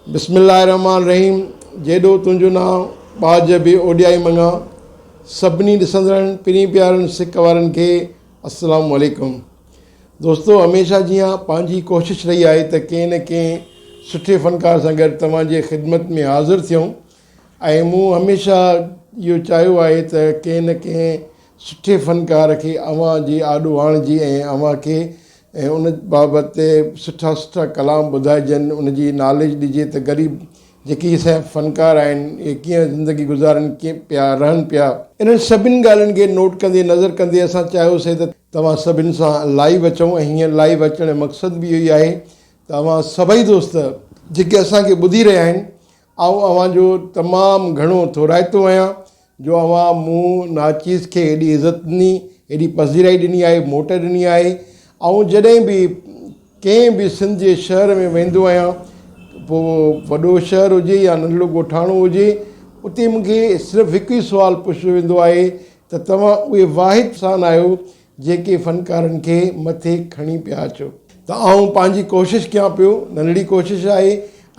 بسم الله الرحمٰن الرحيم جيڏو تنهنجو نانء ٻاجهه به اوڏيائي مڱان سڀني ڏسندڙن پرين پيارن سڪ وارن کي السلام عليڪم دوستو هميشه جيان پنهنجي ڪوشش رهي آهي ته ڪنهن نه ڪنهن سٺي فنڪار سان گڏ توهان جي خدمت ۾ حاضر ٿيون ۽ مون هميشه اهو چاهيو آهي ته ڪنهن نه ڪنهن سٺي فنڪار کي اوهان جي آڏو آڻجي ۽ اوهان کي ان بابت سٺا سٺا ڪلام ٻڌائجن، ان جي ناليج ڏجي ته غريب جيڪي هي سائين فنڪار آهن اهي ڪيئن زندگي گذارن پيا، رهن پيا. انهن سڀني ڳالهين کي نوٽ ڪندي نظر ڪندي اسان چاهيوسين ته توهان سڀني سان لائيو اچون ۽ هيئن لائيو اچڻ جو مقصد به اهو ئي آهي ته اوهان سڀئي دوست جيڪي اسان کي ٻڌي رهيا آهن آئون اوهان جو تمام گهڻو ٿورائتو آهيان جو اوهان مون ناچيز کي هيڏي عزت ڏني، هيڏي پذيرائي ڏني آهي، موٽ ڏني آهي. آئون جڏهن به ڪنهن به سنڌ جي شهر ۾ ويندو آهيان پوء وڏو شهر هجي يا ننڍڙو ڳوٺاڻو هجي اتي مون کي صرف هڪ ئي سوال پڇيو ويندو آهي ته توهان اهي واحد انسان آهيو جيڪي فنڪارن کي مٿي کڻي پيا اچو. ته آئون پنهنجي ڪوشش ڪيان پيو. ننڍڙي ڪوشش آهي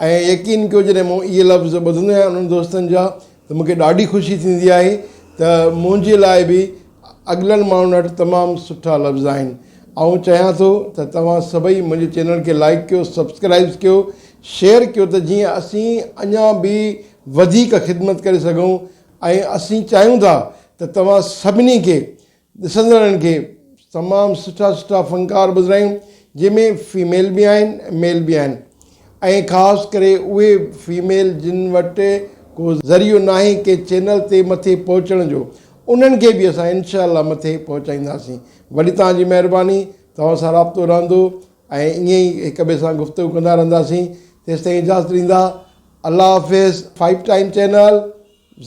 ۽ يقين ڪيو جڏهن مون اهي لفظ ٻڌندو آهيان انهن دوستن جا ته مون کي ڏاڍي خوشي ٿيندي آهي ته منهنجي لاء به اڳلن ماڻهن وٽ تمام سٺا لفظ آهن. آئون چاهيان ٿو ته توهان سڀئي منهنجي چينل کي لائيڪ ڪيو، سبسڪرائيبز ڪيو، شيئر ڪيو ته جيئن اسين اڃا به وڌيڪ خدمت ڪري سگهون ۽ اسين چاهيون ٿا ته توهان سڀني کي ڏسندڙن کي تمام سٺا سٺا فنڪار ٻڌرايون جنهن ۾ فيميل به آهن ميل به آهن ۽ خاص ڪري اهي فيميل جن وٽ ڪو ذريعو ناهي ڪنهن چينل تي مٿي پهچڻ جو انهن کي به اسان انشاء الله مٿي پهچائينداسين وڏي توهان جي مهرباني توهان سان رابطو رهندو ۽ ائين ئي هڪ ٻئي سان گفتگو ڪندا رهنداسين تيستائين اجازت ڏيندا الله حافظ فائيو ٽائيم چينل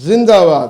زنده آباد.